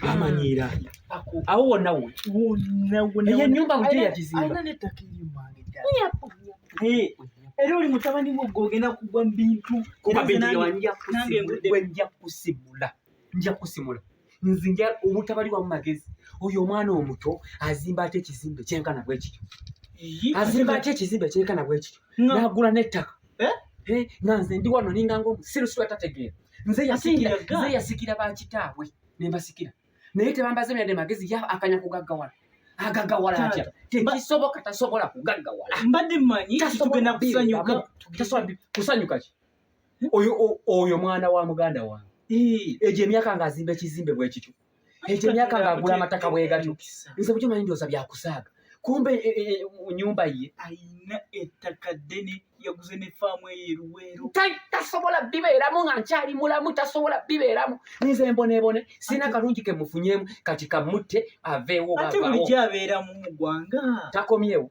amanyiira awo wonna wonnaeyo nyumba bujo yakizimba era oli mutabani wo gwe ogenda kugwa mu bintu nja kusimula nja kusimula nze nja obutabali wamu magezi oyo omwana omuto azimba ate ekizimbe kyenkana bwekityo azimba ate ekizimbe kyenkana bwekityo nagula n'ettaka eh? eh, nga nze ndi wano ninga ngaomusiru siwa tategeera nze yasikira bakitaabwe nembasikira naye tebambaze myadde magezi ya akanya kugaggawala agagawala atya tekisoboka tasobola kugaggawala mbadde manyi tugenda kusanyuka tasobola kusanyuka ki oyo mwana wa muganda wange egyo emyaka nga azimba ekizimbe bwekityo ekyo emyaka ng'agula amataka bwegatyo nze bukyo manyi ndooza byakusaaga kumbe e, e, e, nyumba ye ayina ettaka ddene yaguze ne faamu eyo eruweero tasobola bibeeramu nga nkyali mulamu tasobola bibeeramu nze mbonebone sina kalungi kemufunyemu kati kamutte aveewo ate bulijjo abeeramu mu ggwanga takomyewo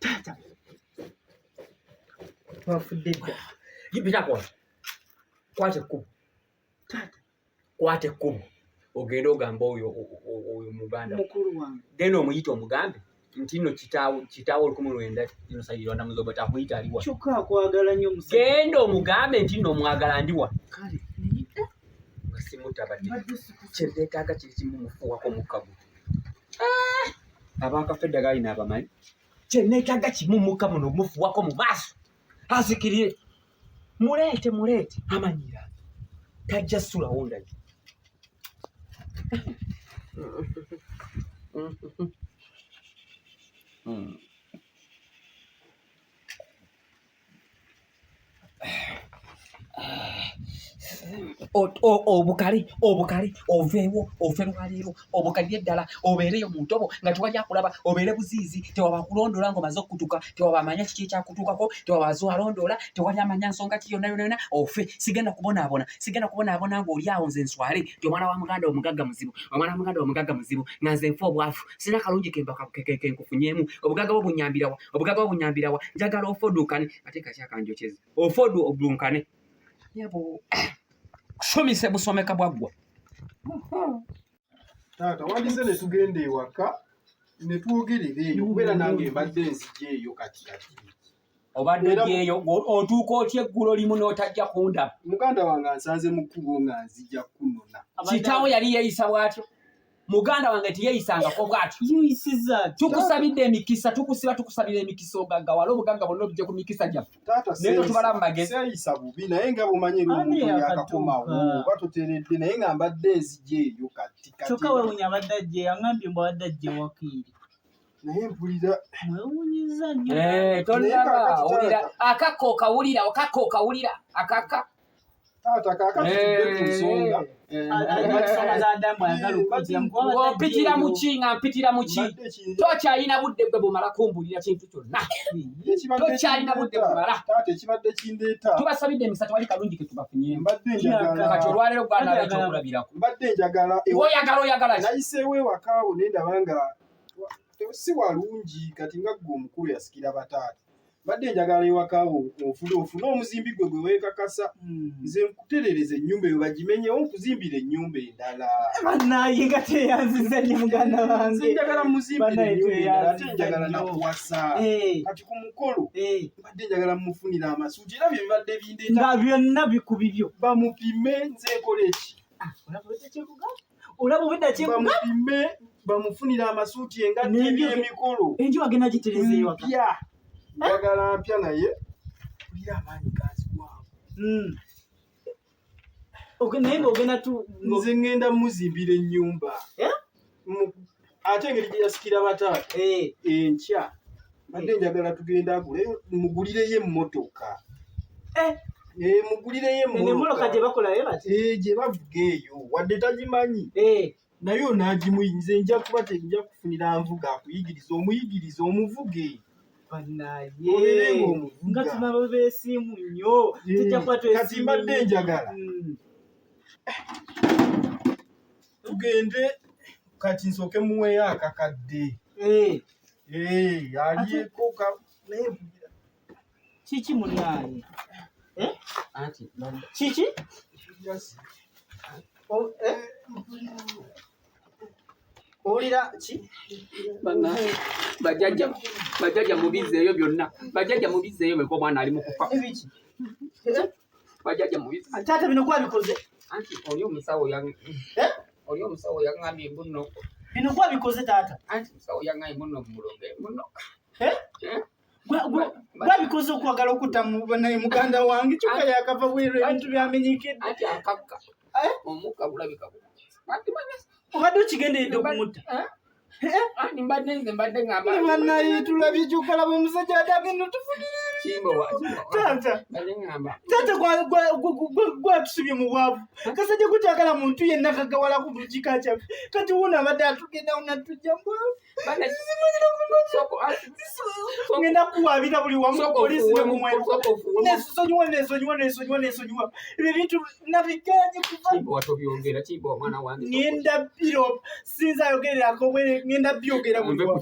Tata. Twafudde dda. Yipita kwa. Kwate kubo. Tata. Kwate kubo. Ogenda ogamba oyo oyo muganda. Mukulu wange. Genda omuyite omugambe. nti no kitaawo kitaawo olukumi lwenda ino saidi rwanda muzoba takuyita aliwa kyokka akwagala nnyo musajja genda omugambe nti no omwagala ndiwa kale simutabadde kyezeetaaga kiri kimu mufuuwako mukagu ah! abakafedda galina abamanyi kyeneetaaga kimu muka muno mufuuwako mu maaso asikirire muleete muleete amanyira tajja sulawo ndagi Mm. obukale obukale oveewo ove lwaleero obukadde eddala obeereyo mu ntobo nga tewali akulaba obeere buziizi tewaba kulondoola nga omaze okutuka tewaba amanya kiki ekyakutuukako tewaba aze alondoola tewali amanya nsonga ki yonna yona yona ofe sigenda kubonaabona sigenda kubonaabona ng'oli awo nze nswale ti omwana wa muganda omugagga muzibu omwana wa muganda omugagga muzibu nga nze nfa obwavu sina kalungi kembakenkufunyeemu obugagga bwo bunyambirawa obugagga bwo bunyambirawa njagala ofoduukane ate kakyakanjokyeza ofodu obunkane yabo kusomesa busomeka bwaggwa taata wandize ne tugenda ewaka ne twogerera eyo kubeera nange mbadde enzija eyo kati kati obadde gyeyo otuuka otya eggulo limu n'otajja kundaba muganda wange ansanze mu kkubo nga nzija kunona kitaawo yali yeeyisa bw'atyo muganda wange tiyeyisangako bwatyo tukusabidde emikisa tukusiba tukusabira emikisa ogagga wala obugagga bonna obije ku mikisa gyaffe naye totubala mu mageziyisa bubi naye nga bumanyi luyakakomawo oba tuteredde naye nga mbadde ezija eyo kati kyokka wewunya abadde ajje yangambye mbu abadde ajje wakiiri naye mpulira mwewunyiza nnyo eh, tolaba akakka okawulira okakka okawulira akakka taata kakati ku nsonga mpitira muki nga mpitira muki tokyalina budde gwe bumala kumbulira kintu kyonna tokyalina budde bumala tubasabidde emisa tewali kalungi ketubafunyemukati olwaleero gwanala ekyokulabirako oyagala oyagala nayiseewo ewakaawo nendaba nga si walungi kati nga gwe omukulu yasikira bataata badde njagala ewakawo ofune ofune omuzimbi gwe gwe wekakasa hmm. nze nkuterereza ennyumba eyo bagimenyewo nkuzimbira ennyumba endala eh, banaye nga teyanziza nyo muganda wange njagala muzimbira ennyumba endala ate njagala nakuwasa eh. kati ku mukolo eh. badde njagala mufunira amasuuti era bye bibadde bindeeta nga byonna bikubibyo bamupime nze nkola eki ah, olaba obwedda kyebamupime bamufunira amasuuti engatto ebyemikulu enju agenda gitereza ewaka njagala mpya naye kulira amaanyi gazibwamu hmm. naye ngaogenda tu nze ngenda muzimbira ennyumba eh? ate engeri gye yasikira bataata eh. enkya badde eh. njagala tugenda agule mugulireyo emmotoka eh. mugulireyo emmotoka gye bakolayo bati gye bavuga eyo wadde tagimanyi naye onaagimuyinze nja kuba tenja kufunira nvuga akuyigiriza omuyigiriza omuvuge banaye nga tunabo besiimu nnyo tujja kuba twesimu kati mbadde njagala mm. tugende kati nsooke muweeyo akakadde eh. eh, alyeko kiki mulyaye eh? kiki oh, owulira ki bajajja mubizzeeyo byonna bajajja mubizzeeyo beko omwana ali mukufa bajjaja mubi taata bino gwabikoze anti oli omusawo ya eh? oli omusawo yangambye mbuno bino gwabikoze taata anti omusawo yangambye mbuno mulonge mbuno eh? eh? gwabikoze okwagala okutta naye muganda wange kyokka yakava bweru ebintu byamenyekede anti akakka omukka gulabika obadde okigenderedde okumutta naye tulabye kyokalaba omusajja atagenda otufunyirtgwatusibye mu bwavu kasajja kukyagala muntu yenna kagawala ku buli kika kyaffe kati wuno abadde atugendawo natujja ngenda kuwabira buli wamu polisi nemumwesonyiwa nesonyiwa nesonyiwa nesonyiwa ebyo bintu nabiganye kuva nenda biro sinza ayogererako bwe ngenda byogera buli wamu